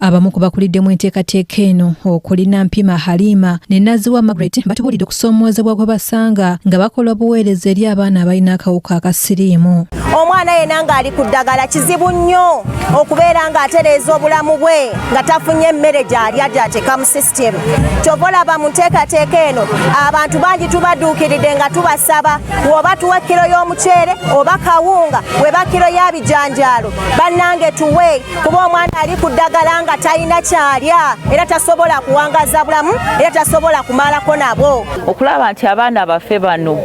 Abamu ku bakulidde mu enteekateeka eno okuli Nampima Halima ne Naziwa Margaret batubulidde okusoomoozebwa gwe basanga nga bakola obuweereza eri abaana abalina akawuka akasiriimu. Omwana yena ng'ali ku ddagala kizibu nnyo okubeera ng'atereeza obulamu bwe nga tafunye emmere gy'alya gy'ateeka mu system kyova olaba mu nteekateeka eno abantu bangi tubaduukiridde nga tubasaba woba tuwa kiro y'omuceere oba kawunga weba kiro ya bijanjaalo bannange tuwe kuba omwana ali ku ddagala nga talina kyalya era tasobola kuwangaza bulamu era tasobola kumalako nabo okulaba nti abaana baffe bano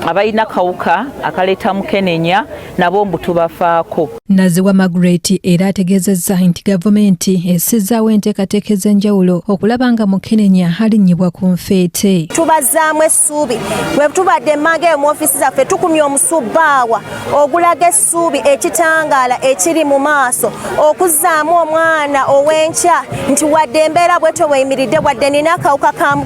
abalina kawuka akaleeta mukenenya nabo mbu tubafaako. Naziwa Margaret era ategeezezza nti gavumenti essizaawo enteekateeka ez'enjawulo okulaba nga mukenenya alinnyibwa ku nfeete. Tubazzaamu essuubi bwe tubadde emmanga eyo mu ofiisi zaffe tukumye omusubbaawa ogulaga essuubi ekitangaala ekiri mu maaso okuzzaamu omwana ow'enkya nti wadde embeera bwetyo bweyimiridde wadde nina akawuka ka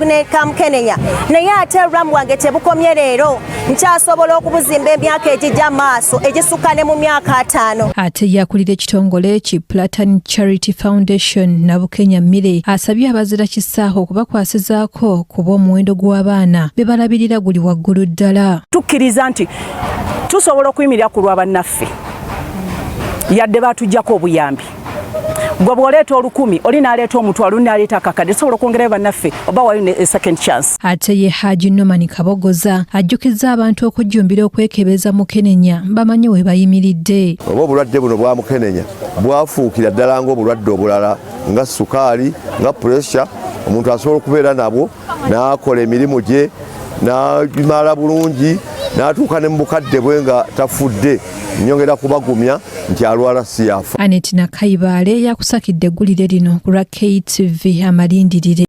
mukenenya naye ate olulamu wange tebukomye leero. nkyasobola okubuzimba emyaka egijja maaso egisukka ne mu myaka ataano ate yakulira ekitongole ki platan charity foundation nabukenya mire asabye abazira kisaaho okubakwasizaako kuba omuwendo gw'abaana be balabirira guli waggulu ddala tukkiriza nti tusobola okuyimirira ku lwa bannaffe yadde batujjako obuyambi gwe bw'oleeta olukumi oli n'aleeta omutwalo n'aleeta akakadde tusobola okwongerayo bannaffe oba wayo ne eh, second chance ate ye haji noman kabogoza ajjukiza abantu okujjumbira okwekebeza mukenenya bamanye we bayimiridde oba obulwadde buno bwa mukenenya bwafuukira ddala ng'obulwadde obulala nga sukaali nga puresya omuntu asobola okubeera nabwo n'akola emirimu gye n'agimala bulungi n'atuuka ne mu bukadde bwe nga tafudde nyongera kubagumya nti alwala siyafa anet nakayibaale yakusakidde eggulire lino ku lwa ktv amalindirire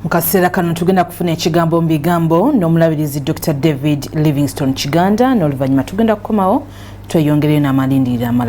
mu kaseera kano tugenda kufuna ekigambo mu bigambo n'omulabirizi dr david livingston kiganda n'oluvannyuma tugenda kukomawo tweyongereyo n'amalindirira amalala